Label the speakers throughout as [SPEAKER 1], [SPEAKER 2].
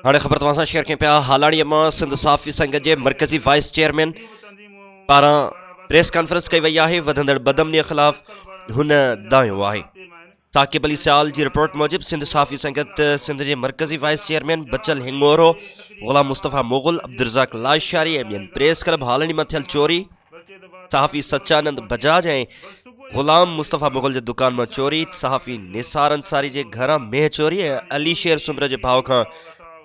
[SPEAKER 1] هاڻي خبر توهان سان شيئر ڪيون پيا هالاڻي مان سنڌ صحافي سنگت جي مرڪزي وائيس چيئرمين پاران پريس ڪانفرنس ڪئي وئي آهي وڌندڙ بدامني خلاف هن دانهيو آهي ثاقب علي سيال جي رپورٽ موجب سنڌ صحافي سنگت سنڌ جي مرڪزي وائيس چيئرمين بچل هڱورو غلام مصطفيٰ مغل عبدالرزاق لاشاري ۽ ٻين پريس ڪلب هالنڊي مان ٿيل چوري صحافي سچانند بجاج ۽ غلام مصطفيٰ مغل جي دڪان مان چوري، صحافي نثار انصاري جي گهران مينهن چوري ۽ علي شير سومري جي ڀاء کان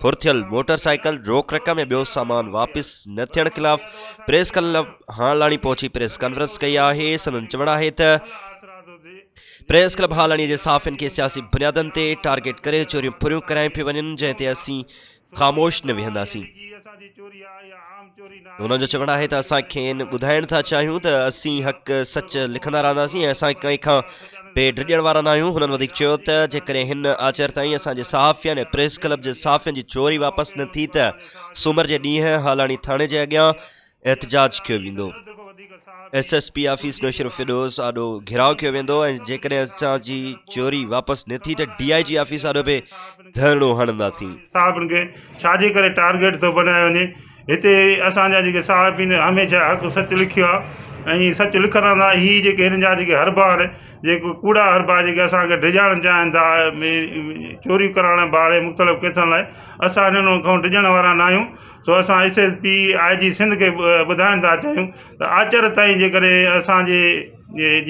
[SPEAKER 1] ڦرٿيل موٽر سائيڪل، روڪ رقم ۽ ٻيو سامان واپس نه ٿيڻ خلاف پريس ڪلب هانئلاڻي پهچي پريس ڪانفرنس ڪئي آهي، سندن چوڻ آهي ته پريس ڪلب هانئلاڻي جي صحافين کي سياسي بنيادن تي ٽارگيٽ ڪري چوريون ڦريون ڪرايون پيون وڃن جنهن تي اسين خاموش نه ويهنداسين. هنن جو چوڻ آهي ته اسان کين ٻڌائڻ ٿا چاهيون ته اسين حق سچ لکندا رهنداسين ۽ اسان ڪنهن کان پي ڊڄڻ وارا ناهيون. هنن وڌيڪ چيو ته جيڪڏهن هن آچر تائين اسان جي صحافين ۽ پريس ڪلب جي صحافين جي چوري واپس نه ٿي ته سومر جي ڏينهن هالاڻي ٿاڻي جي اڳيان احتجاج ڪيو ويندو، S S P office Naushahro Feroze آڏو گهيراء ڪيو ويندو ۽ جيڪڏهن اسان جي چوري واپس نه ٿي ته ڊي آء جي آفيس آڏو به ڌرڻو هڻنداسين. صحافين کي
[SPEAKER 2] ڇا جي ڪري ٽارگيٽ ٿو بنايو وڃي، هتي اسان جا جيڪي صحافين هميشه حق سچ لکيو آهي ۽ سچ لکندا، هي جيڪي هن جا جيڪي هربار جيڪي ڪوڙا هربار جيڪي اسان کي ڊڄائڻ چاهين ٿا ۽ چوريون ڪرائڻ جي بهاني مختلف ڪيسن لاء، اسان هنن کان ڊڄڻ وارا ناهيون. سو اسان S S P I G Sindh کي ٻڌائڻ ٿا چاهيون ته آچر تائين جيڪڏهن اسان جي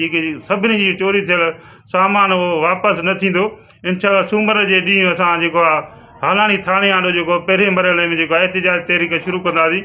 [SPEAKER 2] جيڪي سڀني جي چوري ٿيل سامان اهو واپس نه ٿيندو انشاء الله سومر جي ڏينهن اسان جيڪو آهي هالاڻي ٿاڻي آڏو جيڪو پهرين مرحلي ۾ جيڪو احتجاج تحريڪ شروع ڪنداسين